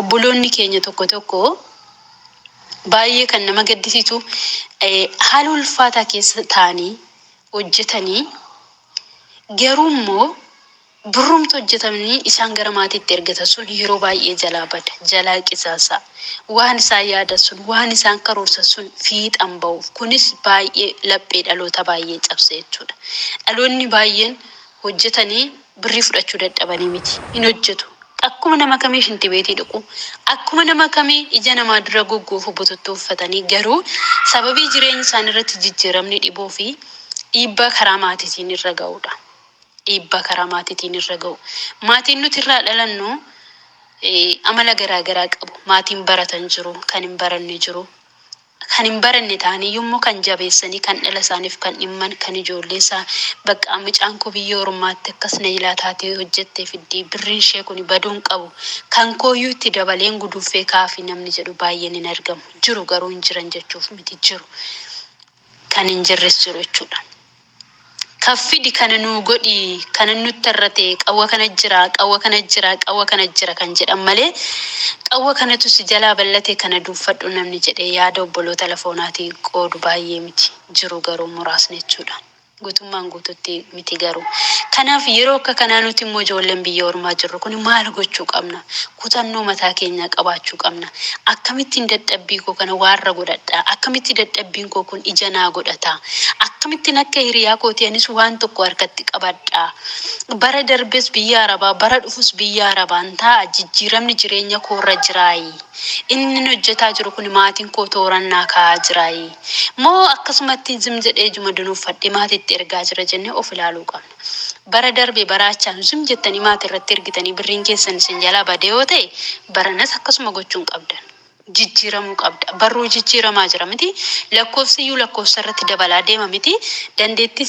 Obboloonni keenya tokko tokko baay'ee kan nama gaddisiisu haala ulfaataa keessa taa'anii hojjetanii garuu immoo birrumti hojjetamni isaan gara maatiitti ergatan sun yeroo baay'ee jalaa bada, jalaa qisaasa. Waan isaan yaadan sun, waan isaan karoorsan sun fiixan ba'uuf. Kunis baay'ee laphee dhaloota baay'ee cabsa jechuudha. Dhaloonni baay'een hojjetanii birrii fudhachuu dadhabanii miti. Hin hojjetu. Akkuma nama kamii shintibeetii dhiqu, akkuma nama kamii ija namaa dura goggoofuu bututtuu uffatanii garuu sababii jireenyi isaanii irratti jijjiiramni dhibuu fi dhiibbaa karaa maatiitiin irra ga'uu dha. Dhiibbaa karaa maatiitiin irra ga'u. Maatiin nuti irraa dhalannu amala garaagaraa qabu. Maatiin baratan jiru, kan hin baranne jiru. kan hin baranne ta'aniyyuu immoo kan jabeessanii kan dhala isaaniif kan dhimman kan ijoollee isaa baqqaa mucaan koo biyya ormaatti akkas na jilaa taatee hojjettee fiddii birriin ishee kuni baduu hin qabu kan kooyyuu itti dabaleen guduunfee ka'aafii namni jedhu baay'een hin argamu jiru garuu hin jiran jechuuf miti jiru kan hin jirres jiru jechuudha. Kaffidi kana nuu godhi kanan nutti arrate qawwa kana jira qawwa kana jira qawwa kana jira kan jedhan malee qawwa kanatu si jalaa ballate kana duuffadhu namni jedhee yaada obboloota lafoonaati qoodu baay'ee miti jiru garuu muraasni jechuudha guutummaan guututti miti garuu kanaaf yeroo akka kanaa nuti immoo ijoolleen biyya ormaa jirru kuni maal gochuu qabna kutannoo mataa keenyaa qabaachuu qabna. Akkamittiin dadhabbii koo kana waarra godhadha? Akkamitti dadhabbiin koo kun ija naa godhata? Akkamittin akka hiriyaa kootii anis waan tokko harkatti qabadha? Bara darbes biyya Arabaa, bara dhufus biyya Arabaan taa'a, jijjiiramni jireenya koorra jiraayi? Innin hojjetaa jiru kun maatiin koo tooraan naa kaa'aa jiraayi? Moo akkasumattin zim jedhee ijuma dunuuffadhee maatiitti ergaa jira jennee of ilaaluu qabna. Bara darbe bara achaanu zim jettanii maati irratti ergitanii birriin keessan isin jalaa badee yoo ta'e baranas akkasuma gochuu hin qabdan. Jijjiiramuu qabda. Barruu jijjiiramaa jira miti. Lakkoofsi iyyuu lakkoofsa irratti dabalaa deema miti. Dandeettiin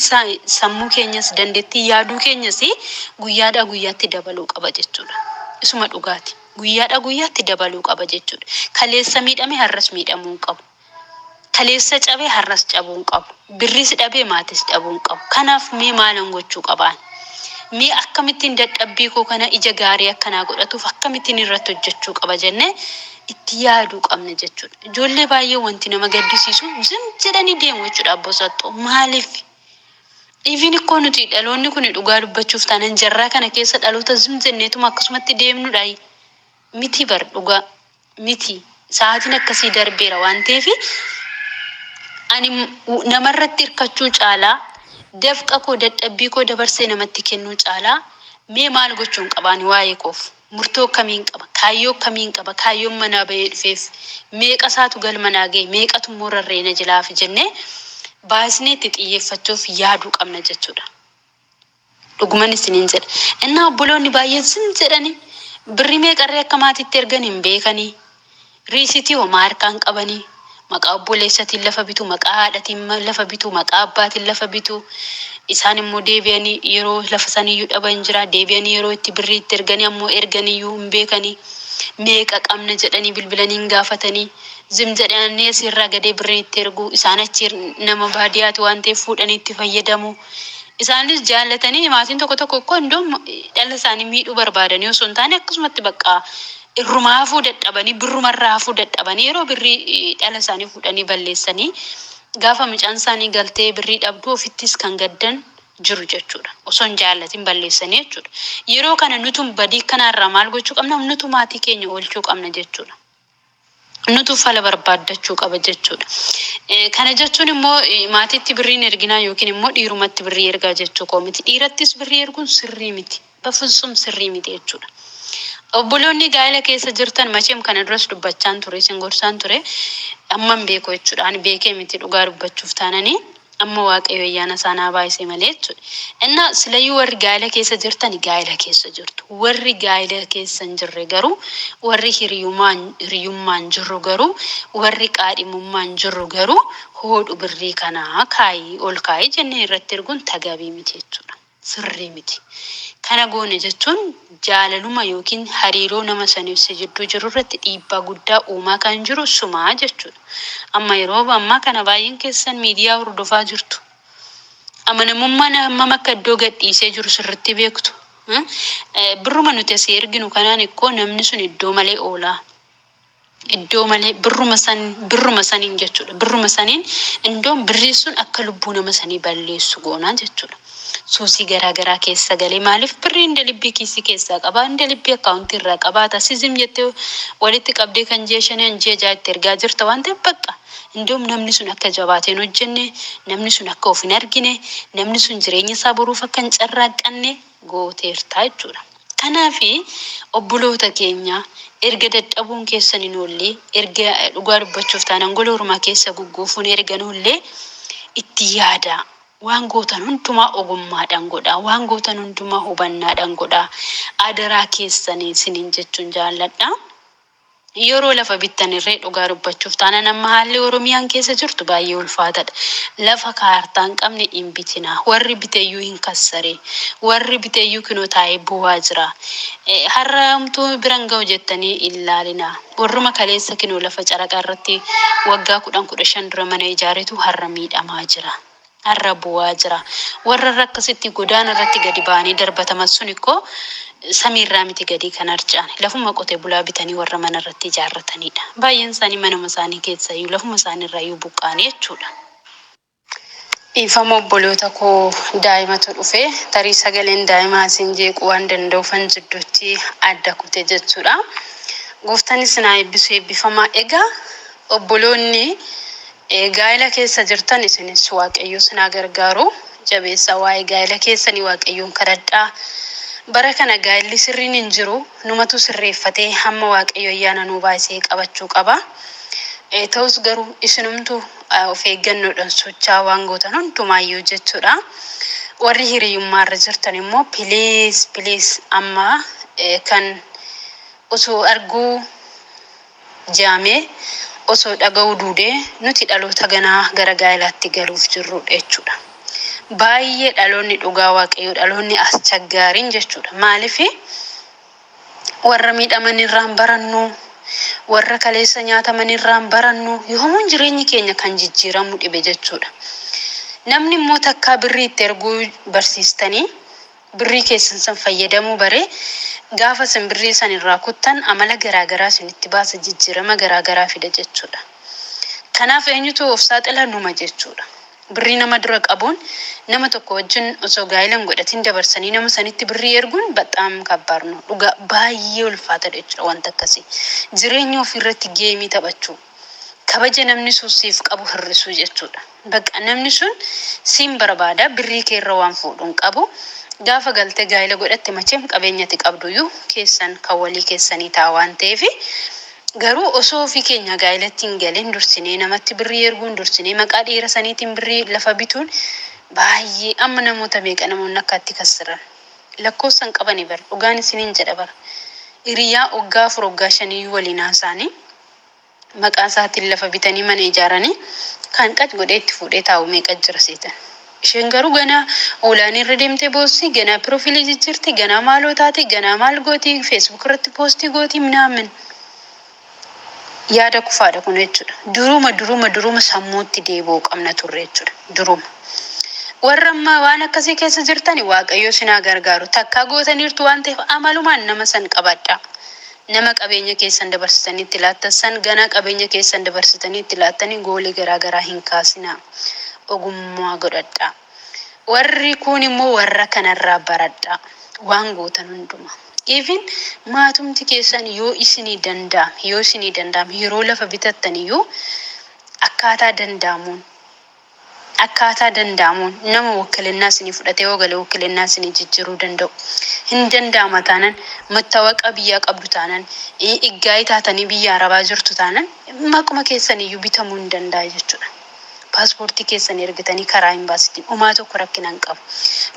sammuu keenyas dandeettiin yaaduu keenyas guyyaadhaa guyyaatti dabaluu qaba jechuudha. Isuma dhugaati. Guyyaadhaa guyyaatti dabaluu qaba jechuudha. Kaleessa miidhame har'as miidhamuu hin qabu. Kaleessa cabe har'as cabuu hin qabu. Birriis dhabe maatis dhabuu hin qabu. Kanaaf mee maalan gochuu qaba ani? Mee akkamittiin dadhabbii koo kana ija gaarii akka naa godhatuuf akkamittiin irratti hojjechuu qaba jennee itti yaaduu qabna jechuudha. Ijoollee baay'ee wanti nama gaddisiisu zim jedhanii deemu jechuudha abboo saxxoo. Maaliif? Even ikkoo nuti dhaloonni kuni dhugaa dubbachuuf taanan jarraa kana keessa dhaloota zim jenneetuma akkasumatti deemnudhaayi? Miti bar dhugaa. miti sa'aatiin akkasii darbeera waan ta'eef ani m- namarratti hirkachuu caalaa dafqa koo dadhabbii koo dabarsee namatti kennuu caalaa mee maal gochuun qabaan waa'ee koof murtoo akkamiin qaba kaayyoo akkamiin qaba kaayyoon manaa bahee dhufeef meeqa isaatu galma naa ga'e meeqatu immoo rarra'ee na jalaa hafe jennee baay'isnee itti xiyyeeffachuuf yaaduu qabna jechuudha. Dhuguman isiniin jedha, ennaa obboloonni baay'een zim jedhani, birrii meeqarree akka maatiitti ergan hin beekanii, riisiitii homaa harkaa hin qabanii, maqaa obboleessatiin lafa bitu, maqaa haadhatiin lafa bitu, maqaa abbaatiin lafa bitu, isaan immoo deebi'anii yeroo lafa saniyyuu dhaban jira, deebi'anii yeroo itti birrii itti erganii ammoo erganiyyuu hin beekanii, meeqa qabna jedhanii bilbilanii hin gaafatanii, zim jedhanii asii irraa gadee birrii itti ergu, isaan achi nama baadiyaati waan ta'eef fuudhanii itti fayyadamu. Isaanis jaallatanii maatiin tokko tokko kko indoom dhala isaanii miidhuu barbaadanii osoo hin taane akkasumatti baqqaa irrumaa hafuu dadhabanii birruma irraa hafuu dadhabanii yeroo birrii dhala isaanii fuudhanii balleessanii gaafa mucaan isaanii galtee birrii dhabduu ofittis kan gaddan jiru jechuudha. Osoo hin jaallatiin balleessanii jechuudha. Yeroo kana nutum badii kanaa irraa maal gochuu qabna nutu maatii keenya oolchuu qabna jechuudha. nutu fala barbaaddachuu qaba jechuudha. Eh, Kana jechuun immoo eh, maatiitti birriin erginaa yookiin immoo dhiirumatti birrii ergaa jechuu koo miti. Dhiirattis birrii erguun sirrii miti. Bafusum sirrii miti jechuudha. Obboloonni gaa'ela keessa jirtan macheem kana duras dubbachaan ture, isin gorsaan ture. Amman beeku jechuudha. Ani beekee miti dhugaa dubbachuuf taananii. Amma Waaqayyo ayyaana isaa naa baay'ise malee jechuudha. Innaa silayyuu warri gaa'ila keessa jirtan gaa'ila keessa jirtu. Warri gaa'ila keessa hin jirre garuu, warri hiriyumaan hiriyummaan jirru garuu, warri qaadhimummaan jirru garuu hoodhu birrii kanaa kaa'i, ol kaa'i jennee irratti erguun tagaabii miti jechuudha. sirrii miti. Kana goone jechuun jaalaluma ykn hariiroo nama saniif si jidduu jiru irratti dhiibbaa guddaa uumaa kan jiru suma jechuudha. Amma yeroo ammaa kana baay'een keessan miidiyaa hordofaa jirtu. Amanamummaan hammam akka iddoo gadhiisee jiru sirriitti beektu. Birruma nuti asii erginu kanaan ikkoo namni sun iddoo malee oola. iddoo malee birruma san birruma saniin jechuudha birruma saniin indoon birrii sun akka lubbuu nama sanii balleessu goonaa jechuudha suusii garaa garaa keessa galee maaliif birrii inda libbii kiisii keessaa qabaa inda libbii akkaawuntii irraa qabaata sizim jettee walitti qabdee kan ji'a shanii an ji'a ja'a itti ergaa jirta waan ta'eef baqqa indoom namni sun akka jabaateen hojjenne namni sun akka of hin argine namni sun jireenya isaa boruuf akka hin carraaqqanne gooteerta jechuudha. Kanaafi obboloota keenya erga dadhabuun keessan hin oolle, erga dhugaa dubbachuuf taanaan gola ormaa keessa gugguufuun erga hin oolle itti yaadaa. Waan gootan hundumaa ogummaadhaan godhaa. Waan gootan hundumaa hubannaadhaan godhaa. Adaraa keessan isiniin jechuun jaalladha. Yeroo lafa bittan irree dhugaa dubbachuuf taanan amma haalli Oromiyaan keessa jirtu baay'ee ulfaatadha. Lafa kaartaa hin qabne hin bitinaa. Warri biteyyuu hin kassare. Warri biteyyuu kinoo taa'ee boo'aa jira. Har'a homtuu bira hin ga'u jettanii hin laalinaa. Warruma kaleessa kinoo lafa caraqa irratti waggaa kudhan kudha shan dura mana ijaaretu har'a miidhamaa jira. arra bu'aa jira. Warra irra akkasitti godaana irratti gadi ba'anii darbataman sun ikkoo samii irraa miti gadii kan harca'an. Lafuma qote bulaa bitanii warra mana irratti ijaarrataniidha. Baay'een isaanii manuma isaanii keessaayyuu lafuma isaanii irraayyuu buqqa'anii jechuudha. Dhiifama obboloota koo daa'imatu dhufe tarii sagaleen daa'imaa isin jeequu waan danda'uufan jidduutti adda kute jechuudha. Gooftan isin haa eebbisu eebbifamaa. Egaa obboloonni Ee gaa'ila keessa jirtan isinis waaqayyoo sin haa gargaaru jabeessa waa'ee gaa'ila keessanii waaqayyoon kadhadhaa bara kana gaa'illi sirriin hin jiru numatu sirreeffatee hamma waaqayyo ayyaana nuu baayisee qabachuu qaba Ee ta'us garuu isinumtu of eeggannoodhan sochaa waan gootan hundumaayyuu jechuudha warri hiriyummaa irra jirtan immoo please please amma kan osoo arguu jeame osoo dhaga'uu duudee nuti dhaloota ganaa gara gaa'elaatti galuuf jirru dha jechuudha. Baay'ee dhaloonni dhugaa waaqayyoo dhaloonni aschaggaarin jechuudha. Maalifi warra miidhaman irraa hin barannu, warra kaleessa nyaataman irraa hin barannu, yoomuun jireenyi keenya kan jijjiiramu dhibe jechuudha. Namni immoo takkaa birrii itti erguu barsiistanii Birrii keessan san fayyadamuu baree gaafa isin birrii san irraa kuttan amala garaa garaa isinitti baasa jijjiirama garaa garaa fida jechuudha. Kanaaf eenyutu of saaxila numa jechuudha. Birrii nama dura qabuun nama tokko wajjin osoo gaa'ila hin godhatin dabarsanii nama sanitti birrii erguun baxaam kabbaad no dhugaa baay'ee ulfaatadha jechuudha wanti akkasii. Jireenya ofii irratti geemii taphachuu. kabaja namni sun siif qabu hir'isuu jechuudha. Bakka namni sun siin barbaada birrii kee irra waan fuudhu hin qabu. Gaafa galtee gaa'ila godhatte macheem qabeenya ati qabdu iyyuu keessan kan walii keessanii ta'a waan ta'eef garuu osoo ofii keenyaa gaa'ilatti hin galin dursinee namatti birrii erguun dursinee maqaa dhiira saniitiin birrii lafa bituun baay'ee amma namoota meeqa namoonni akkaatti kassiran lakkoofsa hin qabani bar dhugaan isiniin jedha bar hiriyaa waggaa afur waggaa shan iyyuu waliin haasaanii maqaa isaatiin lafa bitanii mana ijaaranii kaan qac godhee itti fuudhee taa'u meeqa jira seetan. Isheen garuu ganaa online irra deemtee boossi, ganaa pirofilii jijjiirti, ganaa maaloo taati, ganaa maal gooti, facebook irratti poostii gooti minaamin. Yaada kufaadha kun jechuudha. Duruma duruma duruma sammuutti deebi'uu qabna turre jechuudha. Duruma. Warra ammaa waan akkasii keessa jirtani waaqayyoo sinaa gargaaru takkaa gootaniirtu waan ta'eef amalumaan nama san qabadhaa. Nama qabeenya keessan dabarsitanii itti laattan san ganaa qabeenya keessan dabarsitanii itti laattanii goolii garaa garaa hin kaasinaa. Ogummaa godhadhaa. Warri kuun immoo warra kanarraa baradhaa. Waan gootan hundumaa. Even maatumti keessan yoo isinii danda'ame, yoo isinii danda'ame yeroo lafa bitattan iyyuu akkaataa danda'amuun, Akkaataa danda'amuun nama wukilinnaa isinii fudhatee yoo gale wukilinnaa isinii jijjiruu danda'u. Hin danda'ama taanan mattawaqaa biyyaa qabdu taanan iggaa'ii taatanii biyya arabaa jirtu taanan maquma keessaniyyuu bitamuu hin danda'a jechuudha. Paaspoortii keessan ergitanii karaa imbaasiitiin umaa tokko rakkina hin qabu.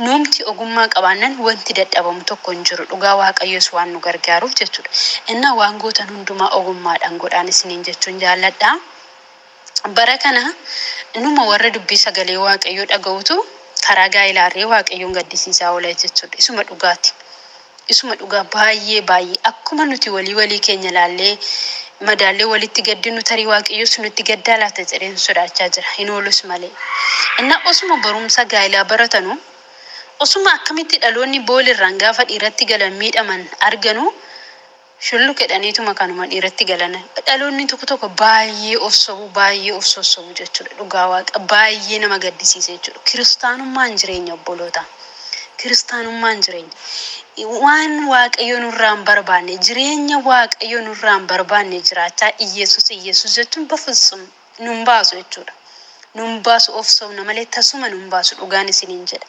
Nuumti ogummaa qabaannan wanti dadhabamu tokko hin jiru dhugaa waaqayyoos waan nu gargaaruuf jechuudha. Innaa waan gootan hundumaa ogummaadhaan godhaan isiniin jechuun jaalladha. Bara kana numa warra dubbii sagalee Waaqayyoo dhaga'utu karaa gaa'elaa ari'ee Waaqayyoon gaddisiisaa oola jechuudha. Isuma dhugaati. Isuma dhugaa baay'ee baay'ee akkuma nuti walii walii keenya ilaallee madaallee walitti gaddinu tarii Waaqayyos nutti gaddaa laata jedheen sodaachaa jira. Hin oolus malee. Innaa osuma barumsa gaa'elaa baratanu osuma akkamitti dhaloonni boolirraan gaafa dhiiratti galan miidhaman arganu Shulluqedhaniituma kanuma dhiiratti galana. Dhaloonni tokko tokko baay'ee of sobu, baay'ee of sossobu jechuudha. Dhugaa Waaqa baay'ee nama gaddisiisa jechuudha. Kiristaanummaan jireenya obbolootaa. Kiristaanummaan jireenya. Waan Waaqayyo nurraa hin barbaanne, jireenya Waaqayyo nurraa hin barbaanne jiraachaa Iyyesuus Iyyesuus jechuun bafitsum nu hin baasu jechuudha. Nu hin baasu of sobna malee tasuma nu hin baasu dhugaan isiniin jedha.